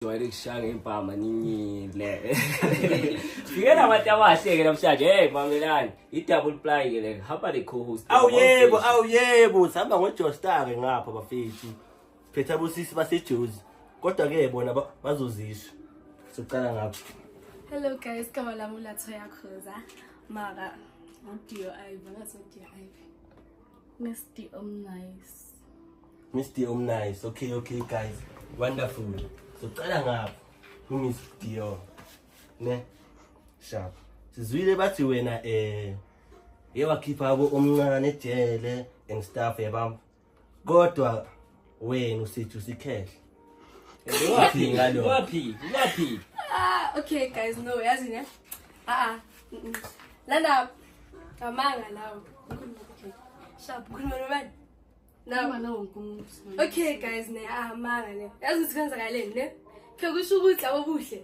jwayele kushaya ngempama ninyile fike nabantu abahle-ke namhlanje hey mamelani i-double ply-ke le hamba ne-cohost awu yebo awu yebo sihamba ngojostar-ke ngapha bafethu phetha bosisi basejozi kodwa-ke bona ba- bazozisho socala ngapho Hello guys, kama la mula toya khoza. Mara, udio aiva, ngaso udio aiva. Nesti om nice. Mr. Omnice. Okay, okay guys. Wonderful. So cala ngapha ku Miss Dior. Ne? Sharp. Sizwile bathi wena eh yewakhipha abo omncane ejele and stuff yabam. Kodwa wena usithi usikhehle. Wapi ngalo? Wapi? Wapi? Ah, okay guys, no, yazi ne. Ah ah. Lana kamanga lawo. Sharp khuluma nobani? Nawa nawo nkumuntu. Okay guys ne, ah manga ne. Yazi sikwenzakaleni ne? Ke kusho ukuthi labo buhle.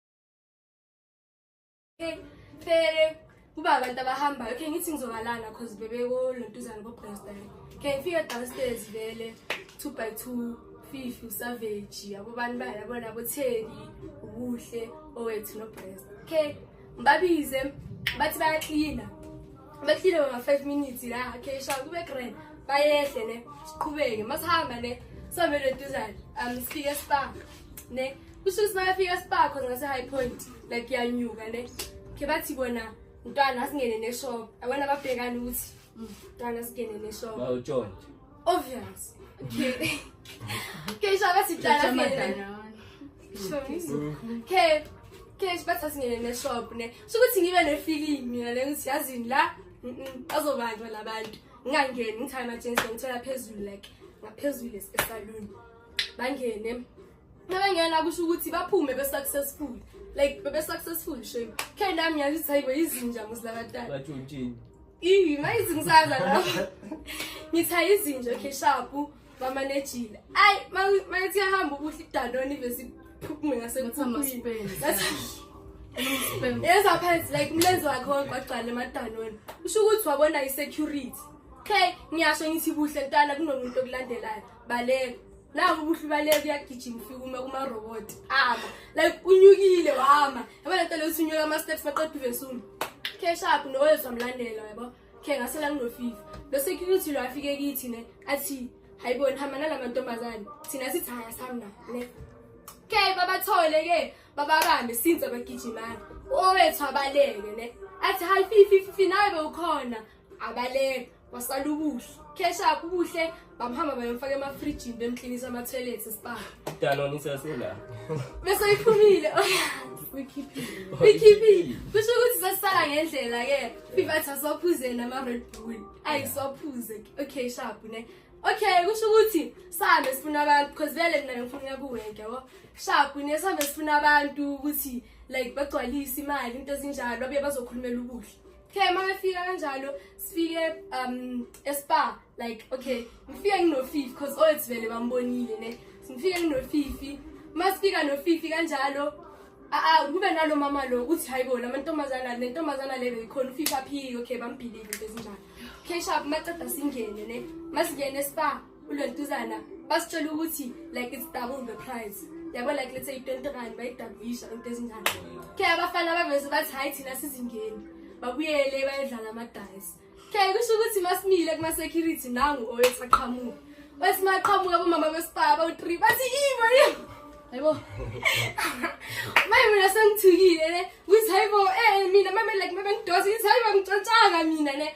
Fere kuba abantu abahambayo khe ngithi ngizobalana cause bebeko lontuzana bobresta khe ngifike downstairs vele two by two fifi usavage yabo bantu bayo yabo nabo theli ubuhle owethu nobresta khe ngibabize bathi bayaklina baklina bama-five minutes la khe sha kube grand bayehle ne siqhubeke masihamba ne samele duzane um sifike sibanga ne kusho ukuthi makafika sibakho ngase-high point like yanyuka ne khe bathi bona mntwana asingene neshop abona babhekani ukuthi mm, mntwana asingene neshop obvious okay okay sho bathi mntwana asingene okay okay bathi asingene neshop ne sho ukuthi ngibe nefeeling mina le ngithi yazini la bazobanjwa labantu ngingangeni ngithathe ama-jeans ngithola phezulu like ngaphezulu esaluni bangene mabengena kusho ukuthi baphume be-successful like bebe-successful shame khe nami yazi ukuthi hayibo yizinja musilakatala batshontshini iyi mayizi ngisaza lapho ngithi ayizinja okay shapu bamanejile ayi mayithi yahamba ukuhle idanoni bese iphume ngasekuphuphuyini yeza phansi like umlenze wakhe wagcwala emadanoni usho ukuthi wabona i-security okay ngiyasho ngithi buhle ntwana kunomuntu okulandelayo baleka nangu ubuhle ubaleka uyagijima ufika uma kumaroboti ama like unyukile wama yabo le nto leyo usunyuka ama-steps maqeda uvesulu cash up nowezwa mlandela yabo khe ngasela nginofifa lo security lo afike kithi ne athi hayiboni hamba nala mantombazane thina sithi haya samna le ke babathole ke bababambe since abagijimana owethu abaleke ne athi hayi fifififi nawe bewukhona abaleka kwasala ubuhle cash up ubuhle bamhamba bayomfaka emafrijini bemklinisa ama-toilets esibanga dalona isasela bese iphumile uyikhiphile kusho ukuthi sesisala ngendlela-ke fivathi asiwaphuze nama-red bull ayi siwaphuze okay sharp ne okay kusho ukuthi sihambe sifuna abantu because vele mina bengifuna uya kuwenke yabo sharp ne sihambe sifuna abantu ukuthi like bagcwalise imali into ezinjalo abuye bazokhulumela ubuhle okay uma befika kanjalo sifike um espa like okay ngifike nginofifi because othi vele bambonile ne ngifike nginofifi uma sifika nofifi kanjalo aa kube nalo mama lo uthi hayi bona amantombazana le ntombazana le beyikhona ufifi aphike okay bambhilile into ezinjalo okay shap maceda singene ne masingene espa kulelituzana basitshela ukuthi like it's double the price yabo like let's say 20 rand bayidabisha into ezinjani ke abafana abaveze bathi hayi thina sizingeni babuyele bayedlala amadayisi ke kusho ukuthi masimile kuma-security nangu owesaqhamuka bathi maqhamuka bomama besibaba u-three bathi ibo hayibo maye mina sengithukile ne ukuthi hayibo um mina mame like mabengidosa ithi hayibo ngitshontshanga mina ne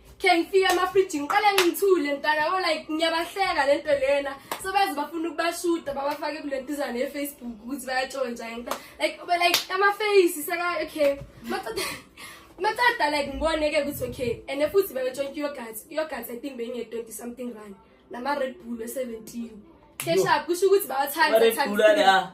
khe ngifike amafriji ngiqale ngithule ntana ko like ngiyabahleka le nto lena so baze bafuna ukubashuta babafake kule ntizana yefacebook ukuthi bayatshontsha ngenta like ube like amafeyisi seka okay macada like ngibone-ke ukuthi okay and futhi bayotshontsha iyogat iyogat i think beyinge-twenty something run nama-red bull we-seventeen keshap kusho ukuthi bawathanda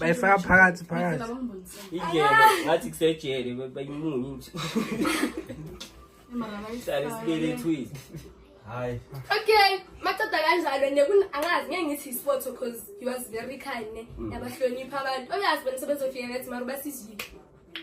bayifaka phakathi phakathingathi kusejele bayimunye nje hlale sibelethwile hayi okay maceda kanjalo ne angazi ngeke ngithi isport because he was very kind ne mm. yabahlonipha abantu oyazi bona sebezofika ngathi mara basizile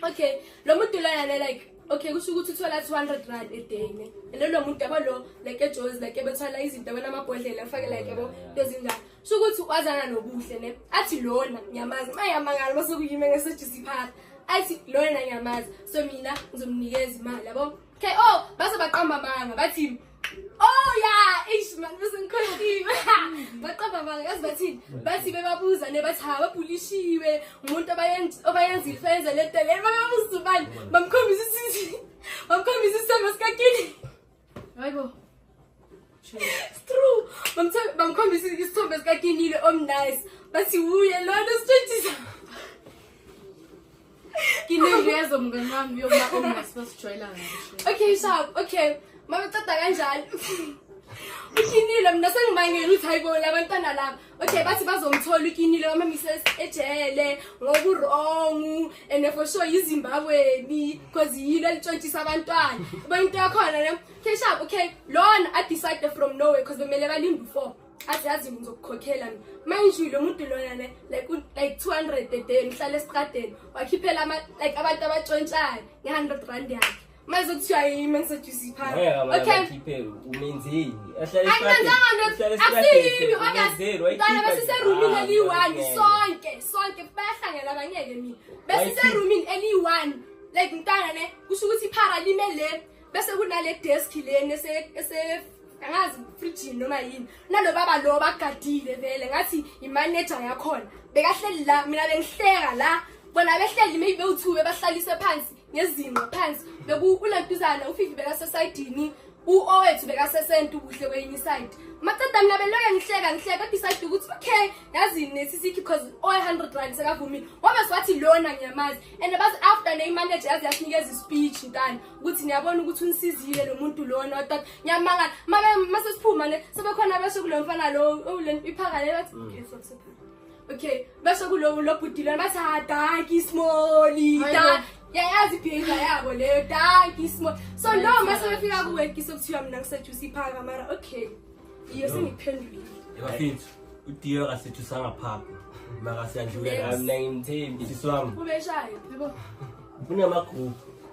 okay lo muntu lona le like okay kusho ukuthi uthola 200 rand a day ne and lo muntu yabo lo like ejozi like ebethola izinto abona amabhodlela afake like yabo into ezinjalo kusho ukuthi wazana nobuhle ne athi lona ngiyamazi mayamangala base kuyime ngesejisi phakathi athi lona ngiyamazi so mina ngizomnikeza imali yabo okay oh base baqamba amanga bathi Oh yeah, eish man bese ngikhohliwe. Baqamba manga yazi bathini? Bathi bebabuza ne bathi ha babulishiwe umuntu abayenza obayenza ifenze le nto le babebuza ubani bamkhombisa isithi bamkhombisa isithembu sikakini. Hayibo. It's true. Bamthe- Bamkhombisa isithombe sikakinile omnice. Bathi wuye lona sitshitshisa. ngineyezo mngani wami yokubaomasibazijoyela ngasho okay shab okay mabeceda kanjalo ukinile mina sengibangela ukuthi hayi bona abantwana laba okay bathi bazomthola ukinile bamamisa ejele ngokurongu and for sure yizimbabweni because yilo elitshontshisa abantwana uba into yakhona ne okay shab okay lona adecide from norway because bemele balinde u-four athi yazi ngizokukhokhela mina manje lo muntu lona ne like like 200 a day ngihlale esikadeni wakhiphela ama like abantu abatshontshayo nge100 rand yakhe mase kuthiwa yimi engiseduze iphansi okay ngikhiphele umenzeni ahlale esikadeni asiyimi okay ngane besise roomini ah, eliyi-1 sonke sonke bayahlangela bangeke mina besise roomini eliyi-1 like mntana ne kusho ukuthi iphara lime le bese kunale desk leni ese angazi fridgini noma yini nalo baba lo bagadile vele ngathi imanager yakhona bekahleli la mina bengihleka la bona behleli maybe bewuthu bebahlalise phansi ngezinqa phansi beku ulantuzana ufifi bekasesayidini uowethu bekasesenta ubuhle kwenye iside maceda mina beloke ngihleka ngihleka kodwa isayide ukuthi okay yazini nesisiki because owe-hundred rand sekavumile wabe siwathi lona ngiyamazi and bas after neyimanager yaze yasinikeza ispeech ntana ukuthi niyabona ukuthi unisizile lo muntu lona wathi ngiyamangala mase siphuma le sebekhona besho kulo mfana lo owule iphaka le bathi mm. okay stop stop okay besho kulo lo bhuti lona bathi ha danki smoli yayazi iphika yabo leyo danki smoli so lo mase befika kuwe kise kuthiwa mina ngisejuice iphaka mara okay iyo sengiphendulile yabafethu udiyo akasethu sangaphapha makasiyandlula mina ngimthembi siswami ubeshayo yebo kunamagroup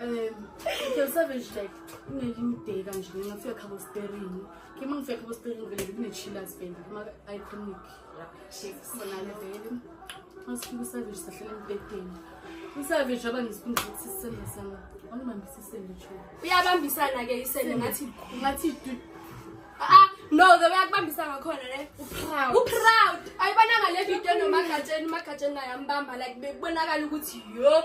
um ke savage like unelimde kanje mina ngifika khabo sperini ke uma ngifika khabo sperini vele kunechillers vele kuma iconic sonale vele masifika usavage sahlala embhedeni usavage aba ngisphinda ukuthi sisende sana wanibambisa isende cho uyabambisana ke isende ngathi ngathi ah no the way akubambisa ngakhona ne uproud uproud ayibonanga le video nomagatsheni umagatsheni naye ambamba like bekubonakala ukuthi yo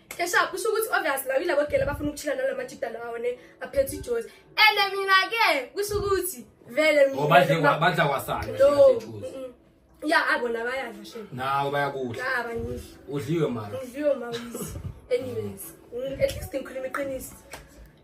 Esha kusho ukuthi obvious la yilabo gele abafuna ukuchila nalama jida lawo ne aphethe ijozi. Ene mina ke kusho ukuthi vele mina. Obadle oh, badla kwasana. No. Ya abona ah, bayadla shame. Nawo bayakudla. Cha ah, bangihle. Udliwe mara. Udliwe mawisi. Anyways, mm, at least ngikhuluma iqiniso.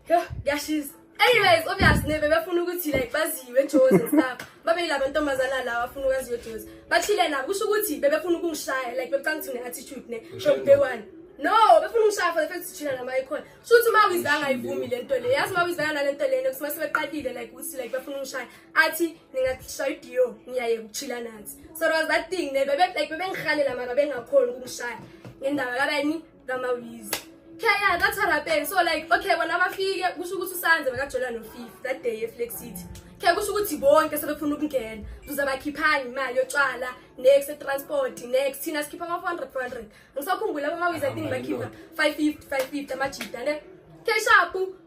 Yho, kuyashisa. Anyways, obviously nebe befuna ukuthi like baziwe eJozi and stuff. Babe yilabo ntombazana lawa afuna ukwaziwa eJozi. Bachile nabo kusho ukuthi bebefuna ukungishaya like bebecanga ukuthi ne-attitude ne from day one. No, befuna ukungishaya for the fact ukuthi la maye khona. Kusho ukuthi uma wizanga ayivumi le nto le. Yazi uma wizanga nale nto lena kusima sebeqalile like ukuthi like befuna ukungishaya. Athi ningashaya idio ngiyaye ukuchila nathi. So it was that thing ne bebe like bebengihalela mara bengakhona ukungishaya. Ngendaba kabani ngamawizi yeah yeah that's what happened so like okay bona abafike kusho ukuthi usanze bekajola nofif that day eflex city khe kusho ukuthi bonke sebefuna ukungena zuze bakhiphani imali yotshwala next transport next thina sikhipha ama 400 400 ngisakhumbula abamawizi i think bakhipha 550 550 amajita ne khe shapu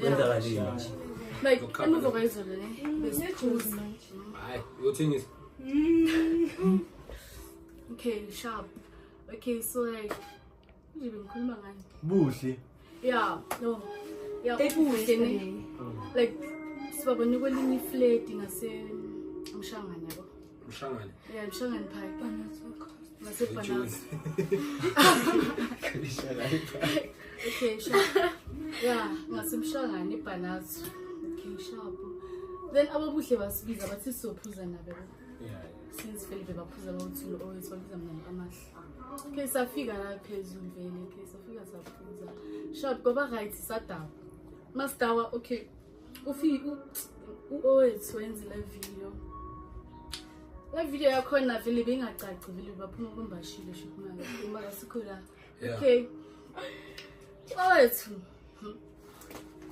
kwenzakalile nje like emuva kwayizolo ne besijuzi hayi uyothengisa mm. okay sharp okay so like nje bengikhuluma ngani buhle yeah no yeah ebuhle ne like sibabona kwelinye ifledi ngase mshangana yabo Lushangane. Yeah, Lushangane Park. Banazoko. Mase Banazoko. Kalishala iPark. Okay, sure. Yeah, ngase Mshangane iBanazoko. Okay, sharp. Then ababuhle basibiza bathi sophuza nabo. Yeah. Since Felipe baphuza bawuthula always babiza mina amahle. Okay, safika la phezulu vele. Okay, safika saphuza. Sharp, baba right sadaba. Mastawa, okay. ufike uowethu wenze le video le video yakhona vele bengacaci vele baphuma kumbashile shukumanga uma kasikho la okay owethu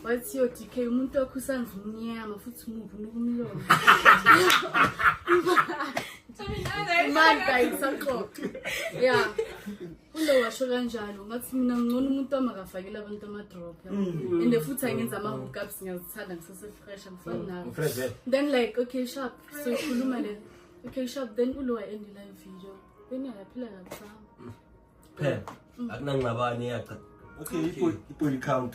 wathi yo dk umuntu wakho usandla umnyama futhi umubi unokumlomo imanda isaxoxa ya Ulo washo kanjalo ngathi mina ngcono umuntu amakafakela abantu ama-drop yabo. Mm. and futhi angenza ama-hookups ngiyazithanda ngisesefresh angifani Mm. nawo Fresh vele. then like okay sharp so ikhuluma le okay sharp then ulo wayendi live video then yayaphila kabuhlanga Phela. Akunangxabane yacha. Okay, ipo- ipo count.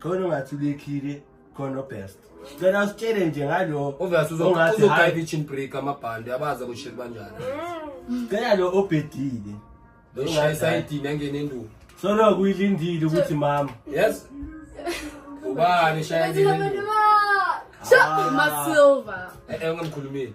khona ungathi ubekhile khona obest cela usitshele nje ngalo obvious uzongathi high kitchen break amabhande abaza kushela kanjani cela lo obedile lo shayisa idini angene enduku so lo kuyilindile ukuthi mama yes ubani shaya idini enduku ah. Shut up, my silver. Eh, eh, ungamkhulumeli.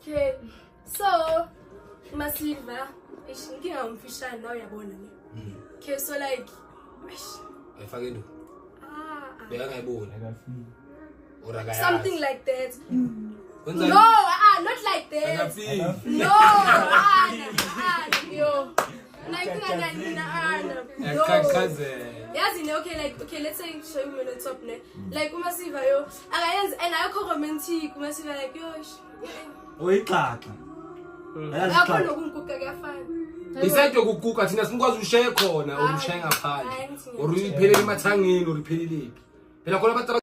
Okay. So Masilva, eish inkinga umfishane nawe uyabona ne. Mm. Okay, so like eish. Ayifake nto. Ah. ah. Bekangayiboni. Akafiki. Or akayazi. Something like that. Mm. No, ah, not like that. Akafiki. No, ah, ah, yo. yazi ne okay like okay let's say show you on top ne mm. like uma siva yo akayenzi and ayikho romantic ungase like yosh uyixaxa akho nokungukuka kuyafana isayide yokuguga thina sinikwazi ushaye khona or ushaye ngaphandle or uyiphelele emathangeni or ipheleleki phela khona abantu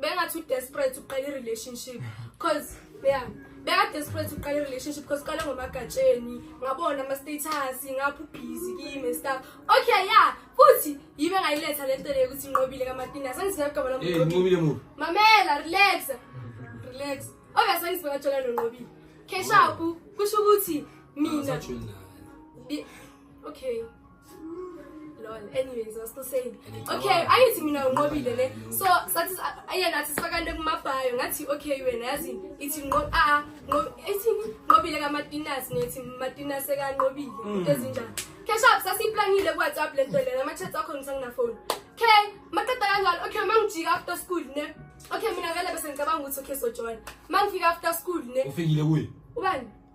bengathi udesperate uqala i-relationship cause yeah bekadesperate uqala i-relationship because uqale ngomagatsheni ngabona ama-status ngapha ubhizi kimi stuff okay ya futhi yibe ngayiletha le nto leyo ukuthi inqobile kamatina sengisinagama mamela relax relax obviously sengisibekajola nonqobile keshapu kusho ukuthi mina okay lol anyways was still saying okay ayithi mina unqobile ne so sathi ayena athi sifakane kumabhayo ngathi okay wena yazi ithi nqo a ah, nqo ithi nqobile kamatinas nethi matinas ekanqobile mm. ezinjani cash up sasiplanile ku WhatsApp lento lena ama chats akho ngisangina phone okay maqeda kanjalo okay mangijika after school ne okay mina vele bese ngicabanga ukuthi okay so join mangifika after school ne ufingile kuye ubani